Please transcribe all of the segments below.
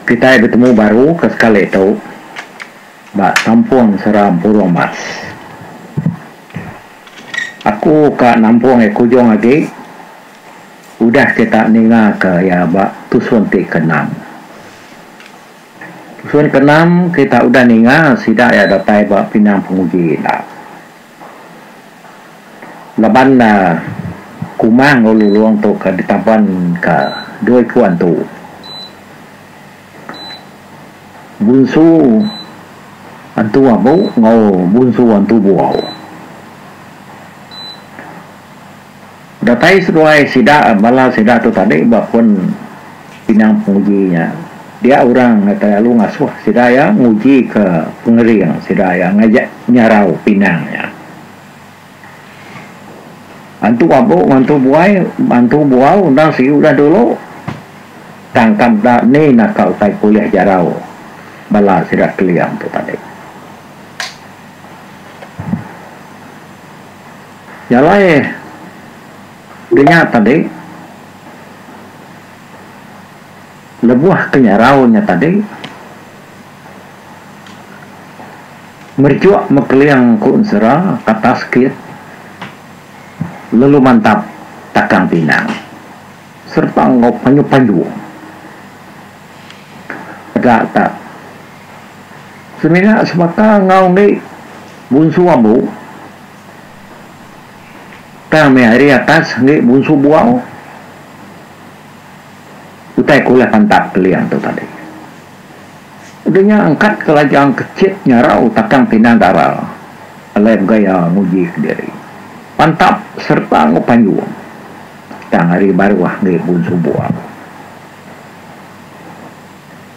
Kitai betemu baru ke sekali tu ba Kampung Seram Purong Mas. Aku ka nampung iya kujung agi udah kita ninga ka iya ba tusun ti ke enam. Tusun ke enam kita udah ninga sida iya datai ba pinang penguji enda. Laban kuma enggau lulong tu ka ditaban ka dua iku antu. Bunsu antu abu enggau bunsu antu buau. Datai seduai sida bala sida tu tadi ba pun pinang penguji nya. Dia orang ngagai lalu ngasuh sida iya ngujika pengering sida iya ngaja nyarau pinang nya. Antu abu mantu buai mantu buau endang siu udah dulu tang ka meda ni naka utai ke ulih jarau bala sida Keling tu tadi. Jalai denya tadi lebuh ke nyarau nya tadi merejuk mekeling ku ensera ke atas kit lalu mantap takang pinang sereta enggau panyu-panyu peda tak Semina sebaka enggau enggi bunsu ambu tang meh ari atas enggi bunsu buau utai ke ulah pantap kelia tu tadi. Udah nya angkat ke lajang ke chit nyarau takang pinang dara alai begaya nguji ke diri pantap sereta enggau panjung tang ari baruh enggi bunsu buau.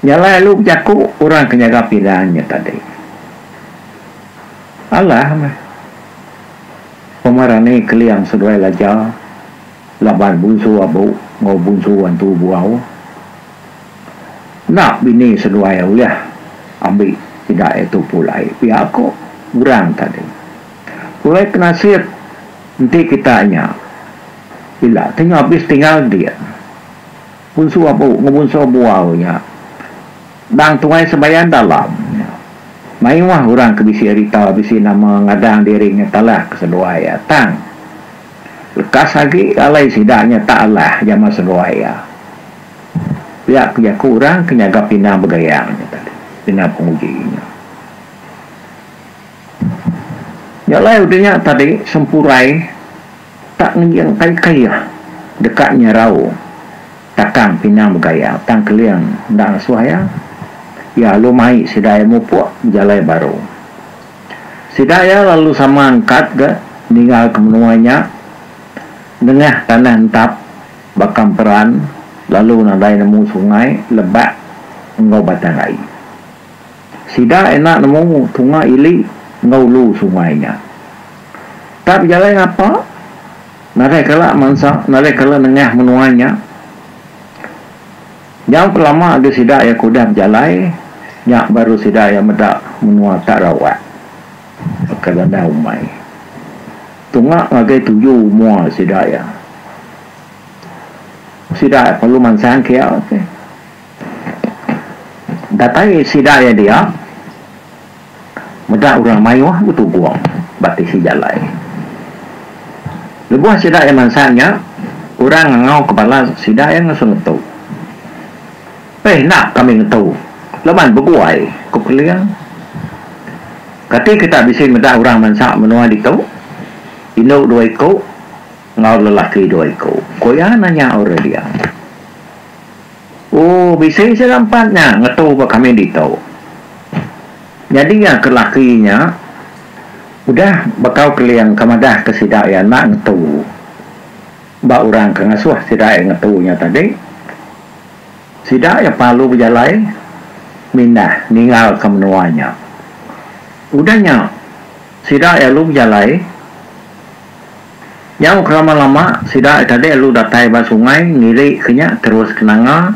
Nya alai alu bejaku orang ke nyaga pinggan nya tadi. Alah meh. Pemerani Keling seduai Laja laban bunsu abu enggau bunsu antu buau. Enda bini seduai ulih ambi sida iya tu pulai pia ku orang tadi. Pulai penasip enti kita nya ila ti ngabis tinggal dik. Punsu abu ngebunsur bual nya. Endang tuai sembayan dalam nya. Maioah urang ke bisi ari tau bisi nama ngadang diri nya Talah ke seduai iya tang. Lekas agi alai sida nya tak alah jama seduai iya. Pia ke jaku urang ke nyaga pinang begayang nya tadi, pinang penguji nya. Nya alai udah nya tadi sempurai. Tak ngejing ai kayuh deka nyerau takang pinang begaya tang keling enda ngesuh iya. Iya alu mai sida iya mupuk bejalai baru. Sida iya lalu sama angkat ga ninggalka menua nya nengah tanah entap baka emperan lalu nadai nemu sungai, lebak enggau batang ai. Sida enda nemu tunga ili enggau ulu sungai nya. Tang bejalai ngapa? Nadai kala mansa, nadai kala nengah menua nya. Nyau ke lama agi sida iya ke udah bejalai, nya baru sida iya meda menua tak rawak. Baka bandar umai. Tunga ngagai tuju mua sida iya. Sida iya perlu mansang ke iya. Datai sida iya dia meda orang mayuh betugung ba tisi jalai. Lebuh sida iya mansa nya, orang ngangau ke bala sida iya ngesu ngetu. Peh enda kami ngetu laban bebuai, ku Keling. Kati kita bisi meda orang mansa menua ditu? Indu dua iku enggau lelaki dua iku, ku iya nanya Aurelia. Oh, bisi sia rampat nya ngetu ba kami ditu. Nyadi iya ke laki nya udah bekau keling ke madahka sida iya enda ngetu ba orang ke ngasuh sida iya ngetu nya tadi. Sida iya palu bejalai mindah ninggalka menua nya. Udah nya, sida iya lalu bejalai. Nyau kelama lama sida ai tadi lalu datai ba sungai ngiri ke nya terus ke Nanga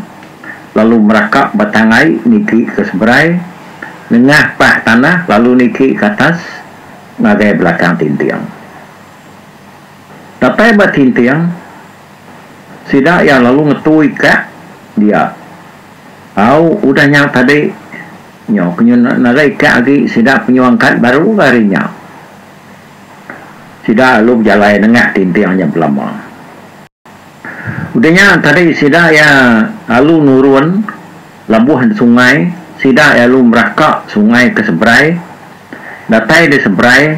lalu meraka batang ai niti ke seberai nengah pah tanah lalu niti ke atas ngagai belakang Tinting. Datai ba Tinting sida iya lalu ngetui ka dia. Au udah nya tadi nyau ke nyun narai ka agi sida penyuang kad baru ga hari nya. Sida lalu bejalai nengah tinting nya belama. Udah nya tadi sida iya lalu nurun labuh di sungai, sida lalu meraka sungai ke seberai. Datai di seberai,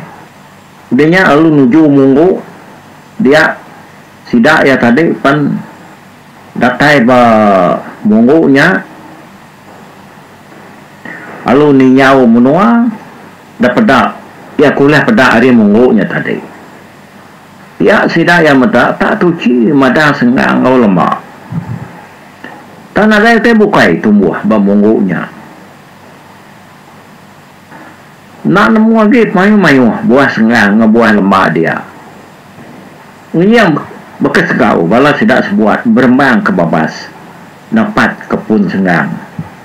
udah nya lalu nuju munggu dia sida iya tadi pen datai ba munggu nya. Alu ninyau menua da peda iya ke ulih peda ari munggu nya tadi. Pia sida iya meda tak tuchi madah senggang enggau lema. Tang nadai utai bukai tumbuh ba munggu nya. Enda nemu agi pemayuh-mayuh buah sengah enggau buah lemba dia. Ngenying baka segau bala sida sebuat berembang ke babas dapat ke pun senggang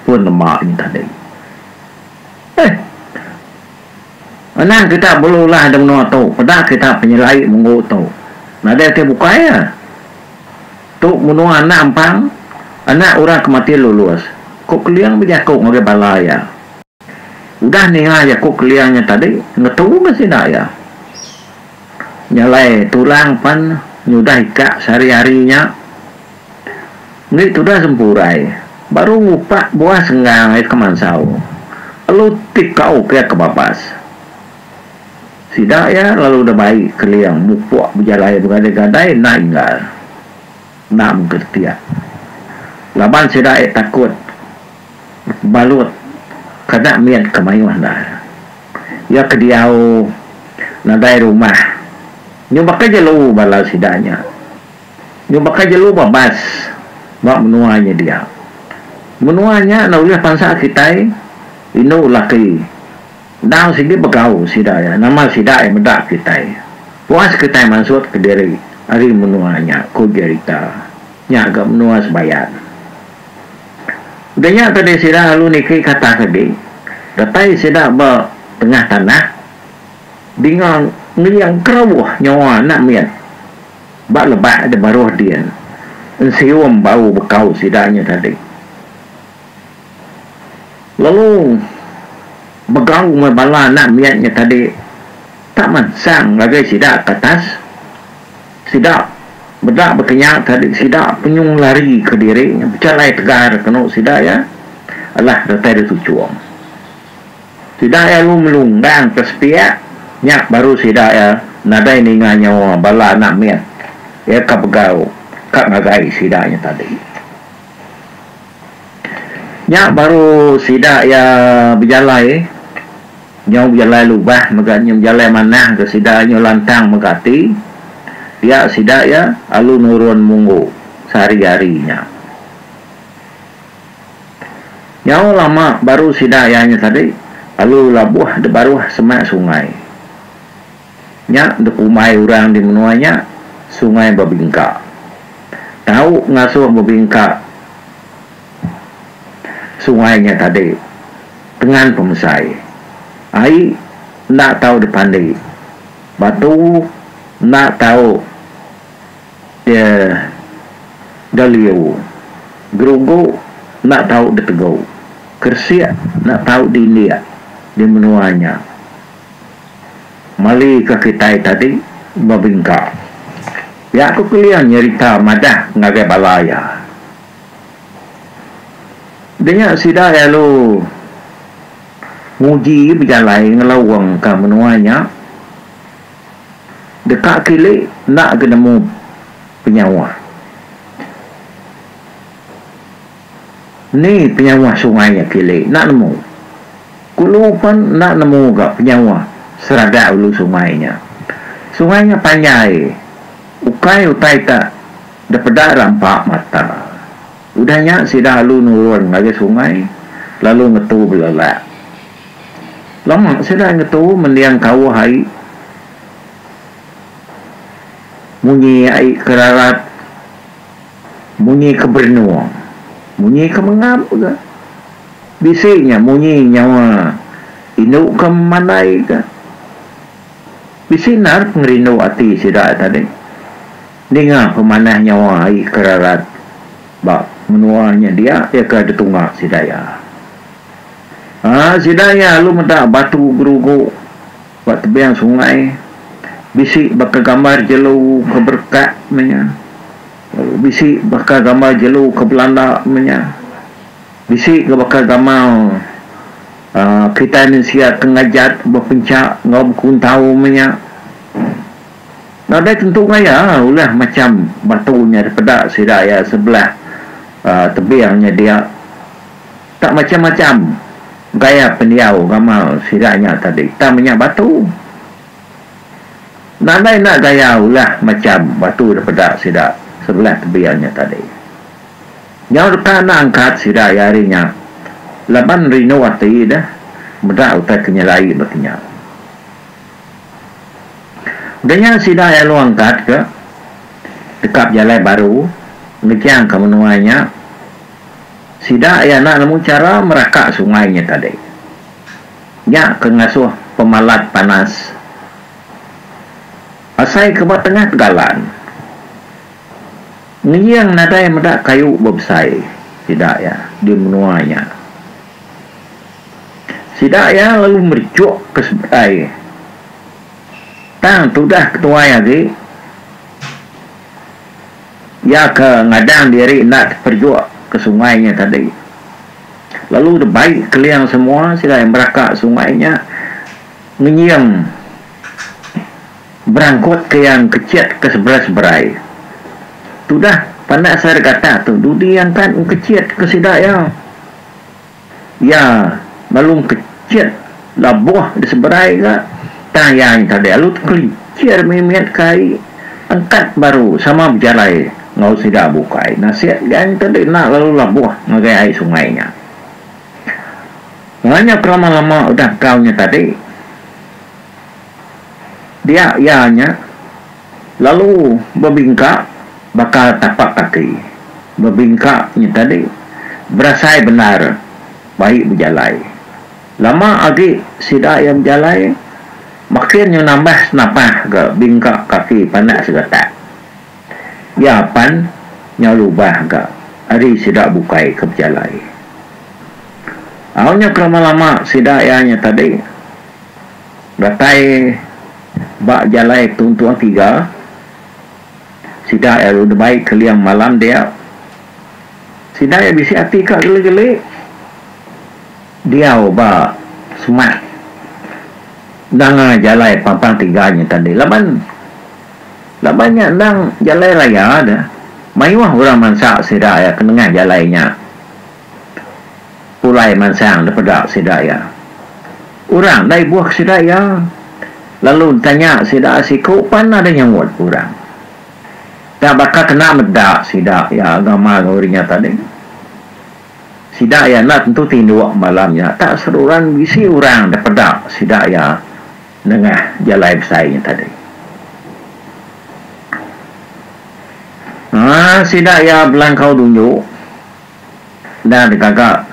pun lemba nya tadi. Eih. Anang kita belulah di menua tu, peda kita penyelai menggu tu. Nadai ti bukai iya. Tu menua anak ampang, anak orang ke mati lulus, ku Keling bejaku ngagai bala iya. Udah ninga jaku kelia nya tadi, ngetu meh sida iya. Nya alai Tulang pan nyudah ikak sehari-hari nya. Enggi tudah sempurai, baru ngupak buah senggang iya ke mansau. Lalu tikau ke iya ke babas. Sida iya lalu udah bai keling mupuk bejalai begadai-gadai enda inggar. Enda mengkeretik. Laban sida iya takut. balut kada mit ke mayuh ne. Iya ke diau nadai rumah. Nyu baka jelu bala sida nya. Nyu baka jelu babas ba menua nya dia. Menua nya enda ulih pansa kitai indu laki. Endang sigi begau sida iya. Nama sida iya meda kitai. Puas kitai mansutka diri ari menua nya, ku Jerita. Nya ga menua Sebayan. Daya tadi sida lalu niki kata ke di datai sida ba tengah tanah dinga ngeling kerawuh nyawa anak mit ba lebak de baruh din ensium bau bekau sida nya tadi lalu begau meh bala anak mit nya tadi tak mansang ngagai sida ke atas. Sida meda bekenya tadi sida penyung lari ke diri bechalai tegar kenu sida iya alah datai ditu chum. Sida iya lu melu endang ke sepiak nya baru sida iya nadai ninga nyawa bala anak mit iya ka begau ka ngagai sida nya tadi. Nya baru sida iya bejalai. Nyau bejalai lubah mega nyau bejalai manah ke sida nyau lantang mega ati pia sida iya alu nurun munggu sehari-hari nya. Nyau lama baru sida iya nya tadi alu labuh di baruh semak sungai. Nya di pumbai orang di menua nya Sungai Bebingka. Tau ngasuh bebingka sungai nya tadi. Tengan pemesai. Ai enda tau dipandi. Batu enda tau dia galiu. Gerugu enda tau ditegu. Keresik enda tau diindik di menua nya. Mali ka kitai tadi bebingka. Pia ku Keling nyerita madah ngagai bala iya. Denya sida lalu nguji bejalai ngelaungka menua nya deka kili enda ke nemu penyauh. Ni penyauh sungai nya kili enda nemu. Kulu pen enda nemu ga penyauh seradak ulu sungai nya. Sungai nya panjai ukai utai ta. Deh peda rampa mata. Udah nya sida alu nurun ngagai sungai lalu ngetu belelak. Lama sida ngetu mending kauh ai munyi ai ke rarat, munyi ke berenung, munyi ke mengap ga. Bisi nya munyi nyawa indu ke memandai ga. Bisi endar pengerindu ati sida tadi. Ninga pemanah nyawa ai ke rarat ba menua nya dia iya ke ditunga sida iya. Aa sida iya alu meda batu gerugu ba tebing sungai bisi baka gambar jelu ke berekat meh nya lalu bisi baka gambar jelu ke belanda meh nya bisi ga baka gamal aa kitai mensia ke ngajat bepenchak enggau bekuntau meh nya. Nadai tentu gaya ulah macham batu nya dipeda sida iya sebelah tebing nya dia tak macham-macham gaya pendiau gamal sida nya tadi tang menya batu nadai enda gaya ulah macham batu dipeda sida sebelah tebing nya tadi nyau deka enda angkat sida iya hari nya laban rindu ati deh meda utai ke nyelai ba kinya. Daya sida iya long kat ke deka bejalai baru ngejang ke menua nya sida iya enda nemu chara meraka sungai nya tadi. Nya ke ngasuh pemalat panas asai ke ba tengah tegalan ngejing nadai meda kayu bebesai sida iya di menua nya. Sida iya lalu merichuk ke sebetai iya. Tang tudah ke tuai agi, iya ke ngadang diri enda teperjuk ke sungai nya tadi. Lalu debai keling semua sida iya meraka sungai nya ngenying berangkut ke iya engkechit ke seberai-seberai. Tudah pandak sida gatak tu dudi angkat engkechit ke sida iya. Iya lalu kecit labuh di seberai ga tang iya tadi lalu tekelichir mimit ke ai engkat baru sama bejalai enggau sida bukai nasik ga tadi enda lalu labuh ngagai ai sungai nya. Nganyap lama lama udah kau nya tadi dia iya nya Lalu bebingka baka tapak kaki. Bebingka nya tadi berasai bendar baik bejalai. Lama agi sida iya bejalai, makin nya nambah senapah ga bingka kaki pandak segatak. Iya pan nyau lubah ga ari sida bukai ke bejalai. Au nya kelama-lama sida iya nya tadi. Datai ba jalai tuntung tiga, sida iya lalu dibai keling malam dia. Sida iya bisi ati ka geli-geli diau ba semak danga jalai pampang tiga nya tadi laban laban nya endang jalai raya dah mayuh orang mansa sida iya ke nengah jalai nya. pulai mansang dipeda sida iya. Orang da ibuhka sida iya lalu ntanya sida siku pan nadai nyaut orang. Nya baka kena meda sida iya agama enggau uri nya tadi. Sida iya enda tentu tinduk malam nya tak seruran bisi orang dipeda sida iya nengah jalai besai nya tadi. Haa sida iya belangkau dunju. Enda digaga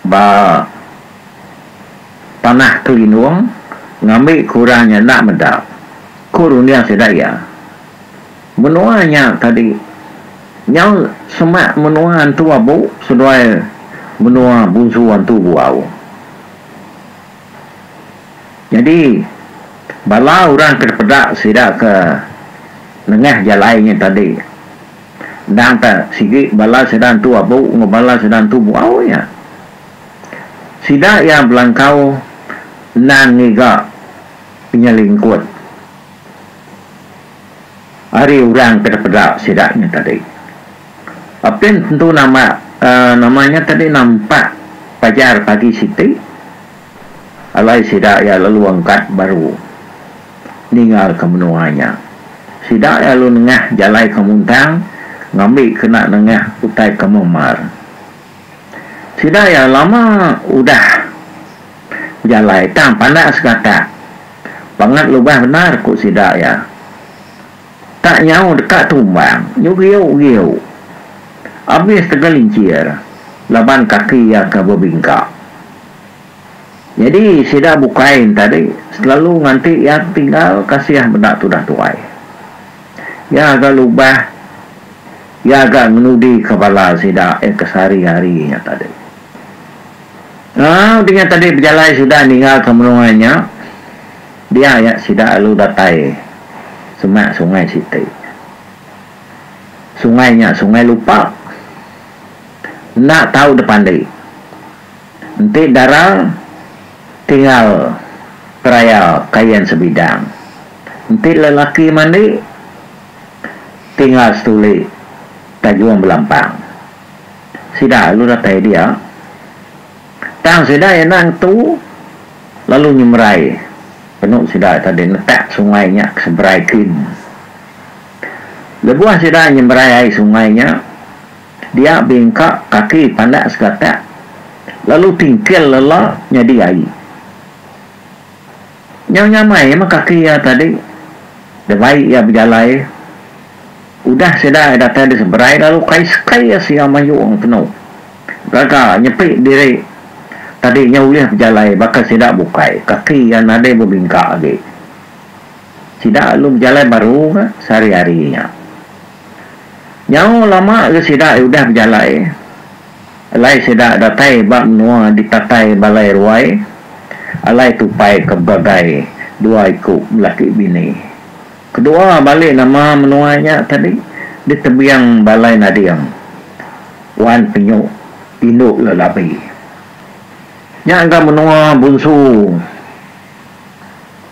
ba tanah Kelindung ngambi ke orang nya enda meda, ku runding sida iya. Menua nya tadi nyau semak menua Antu Abu seduai menua Bunsu Antu Buau. Nyadi bala orang ke dipeda sida ke nengah jalai nya tadi. Endang tah sigi bala sida entu abu enggau bala sida entu buau iya. Sida iya belangkau endang ngiga penyelingkut ari orang ke dipeda sida nya tadi. Apin tentu nama nama nya tadi nampak pajar pagi siti alai sida iya lalu angkat baru. ningalka menua nya. Sida lalu nengah jalai ke muntang ngambi kena nengah utai ke memar. Sida iya lama udah bejalai tang pandak segatak bangat lubah bendar ku sida iya. Tak nyau deka tumbang nyegiu-giu abis tegelincir laban kaki iya ke bebingka. Nyadi sida bukai entadi selalu nganti iya tetinggal kasih meda tudah tuai. Iya ga lubah iya ga ngenudika bala sida iya ke sehari-hari nya tadi. Enggau dinga tadi pejalai sida ninggalka menua nya dia iya sida lalu datai semak sungai siti. Sungai nya sungai lupak enda tau depandi. Enti darang, tinggal peraya kain sebidang. Enti lelaki mandi, tinggal setuli tajung belampang. Sida lalu datai dia. Tang sida iya enda ngetu lalu nyemerai penu sida tadi netak sungai nya ke seberai kin. Lebuh sida nyemerai ai sungai nya. Dia bingka kaki pandak segatak lalu tingkil lela nyadi ai. Nyau nyamai meh kaki iya tadi debai iya bejalai. Udah sida datai di seberai lalu kai sekai iya sia mayung tenu gaga nyepi diri tadi nyau ulih bejalai baka sida bukai kaki iya nadai bebingka agi. Sida lalu bejalai baru ka sehari-hari nya. Nyau lama ga sida udah bejalai. Alai sida datai ba menua ditatai Balai Ruai, alai tupai ke bagai dua iku belaki bini. Kedua bali nama menua nya tadi di tebiang Balai Nading, Wan Penyu indu Lelabi. Nya ga menua Bunsu.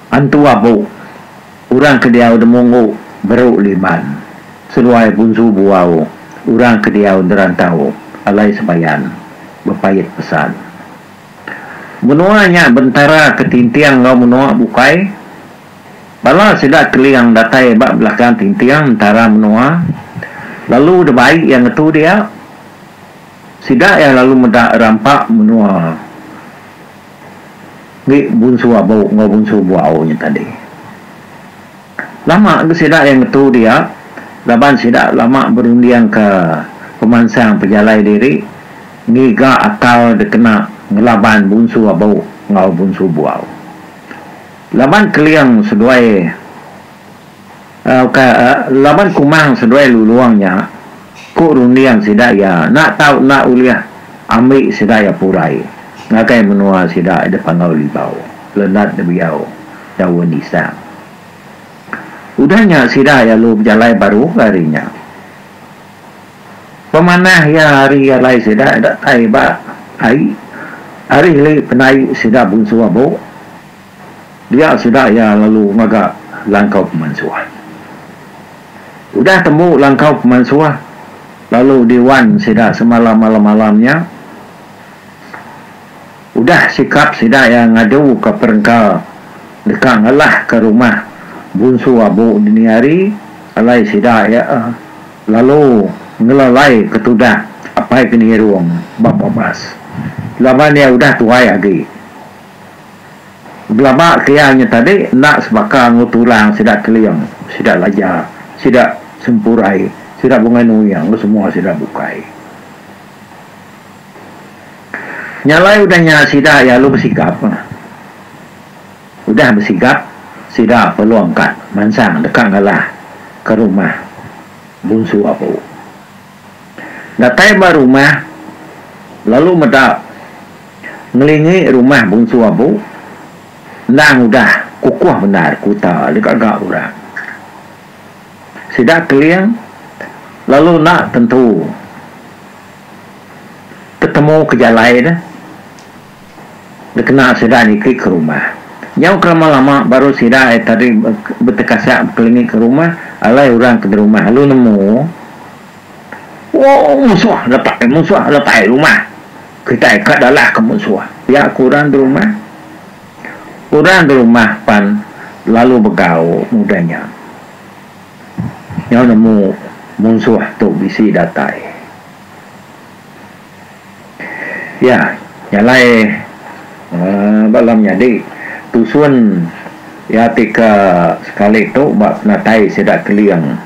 Antu abu, urang ke diau demunggu beru liman, seruai bunsu buau, urang ke diau derantau alai sebayan, bepait pesan. Menua nya bentara ke tinting enggau menua bukai. Bala sida Keling datai ba belakang tinting entara menua lalu debai iya ngetu dia. Sida iya lalu meda rampa menua. Agi bunsu abu enggau bunsu buau nya tadi. Lama agi sida iya ngetu dia laban sida lama berundingka pemansang pejalai diri ngiga akal dikena ngelaban bunsu abu enggau bunsu buau. Laban keling seduai. Laban kumang seduai lulung nya, ku runding sida iya enda tau enda ulih ambi sida iya pulai ngagai menua sida dipangau Libau, Lenat Debiau, Daun Nisang. Udah nya sida lalu bejalai baru ke ari nya. Pemanah iya ari alai sida datai ba ai ari heli penai sida Bunsu Abok. Dia sida iya lalu ngaga langkau pemansuh. Udah tembu langkau pemansuh lalu di wan sida semalam malam-malam nya. Udah sikap sida iya ngadu ka perengka deka ngalah ka rumah Bunsu Abu dini hari alai sida iya lalu ngelalai ka tudah Apai Kenirung ba Babas laban iya udah tuai agi. Belaba ke iya nya tadi enda sebaka enggau tulang sida Keling, sida Laja, sida Sempurai, sida Bungai Nuing enggau semua sida bukai. Nya alai udah nya sida iya lalu besigap. Udah besigap sida Pelong ka mansang deka ngalah ke rumah Bunsu Abu. Datai ba rumah lalu meda ngelingi rumah Bungsu Abu endang udah kukuh bendar kuta deka ga orang. Sida keling lalu enda tentu ketemu ke jalai deh. Dikena sida nitih ke rumah. Nyau ke lama-lama baru sida ai tadi betekasak bekelingi ke rumah alai orang ke berumah lalu nemu ooh musuh lepai musuh lepai rumah kitai ka dalah ke musuh pia ke orang berumah. Orang berumah pan lalu begau udah nya nyau nemu musuh tu bisi datai. Iya nya alai uhh ba alam nyadi tusun iya ti ke sekali tu ba penatai sida Keling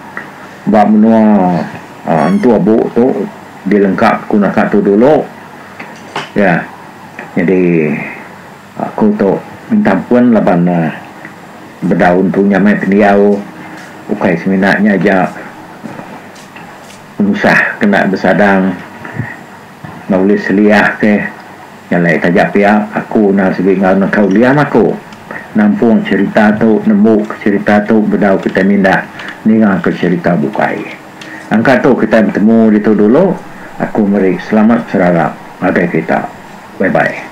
ba menua uhh Entu Abu tu dilengkap ku naka tu dulu iya nyadi aku tu minta ampun laban uhh bedau empu nya meh pendiau ukai semina nya aja. Tusah kena besadang enggau ulih seliah ke nyalai taja pia aku enda sibi enggau neka uliam aku nampung cherita tu nembu ke cherita tu bedau kitai mindah ninga ke cherita bukai angka tu kitai betemu ditu dulu aku meri selamat serarap ngagai kita bye bye.